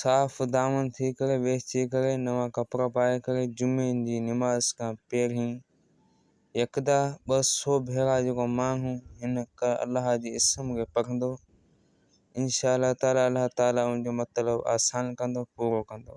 صاف دامن ٿي ڪري ويسجي ڪري نوان ڪپڙا پائي ڪري جمعي جي نماز کان پهرين يڪدا ٻه سو ڀيرا جيڪو ماڻهو هن ڪه الله جي اسم کي پڙهندو انشاء الله تعالي الله تعالي ان جو مطلب آسان ڪندو پورو ڪندو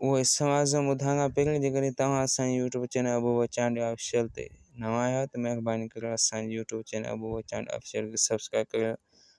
اهو اسم اعظم ٻڌائڻ کان پهرين جيڪڏهن توهان اسان YouTube channel Abu Wachandi official تي نوان آهيو ته مهرباني ڪري اسان YouTube channel Abu Wachandi official کي سبسڪرائب ڪريو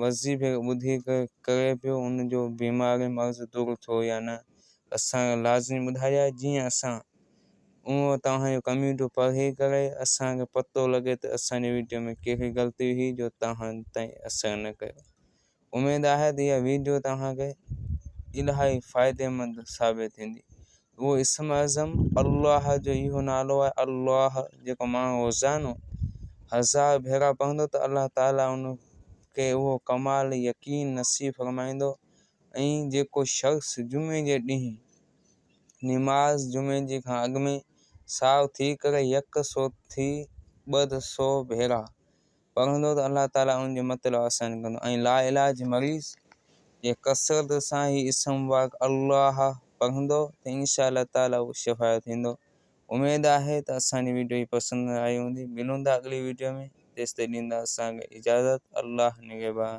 وضعي ڀير ٻڌي ڪري پيو ان جو بيماري مرض دور ٿيو يا نه اسان کي لازمي ٻڌايا جيئن اسان اهو توهان جو ڪمينٽو پڙهي ڪري اسان کي پتو لڳي ته اسان جي ويڊيو ۾ ڪهڙي غلطي هئي جو توهان تائين اثر نه ڪيو اميد آهي ته اها ويڊيو توهان کي الائي فائديمند ثابت ٿيندي اهو اسم اعظم الله جو اهو نالو آهي الله جيڪو ماڻهو روزانو هزار ڀيرا پوندو ته الله تعاليٰ ان کي اهو ڪمال يقين نصيب فرمائيندو ۽ جيڪو شخص جمعي جي ڏينهن نماز جمعي جي کان اڳ ۾ ساو ٿي ڪري يڪ سو ٿي ٻه سو ڀيرا پڙهندو ته الله تعاليٰ ان جو مطلب آسان ڪندو ۽ لاعلاج مريض جي ڪثرت سان هي اسم مبارڪ الله پڙهندو ته انشاء الله تعاليٰ اهو شفايو ٿيندو. اميد آهي ته اسان جي ويڊيو هي پسند آئي هوندي. ملون ٿا اڳلي ويڊيو ۾ تيستائين ڏيندا اسان کي اجازت الله نگهبان.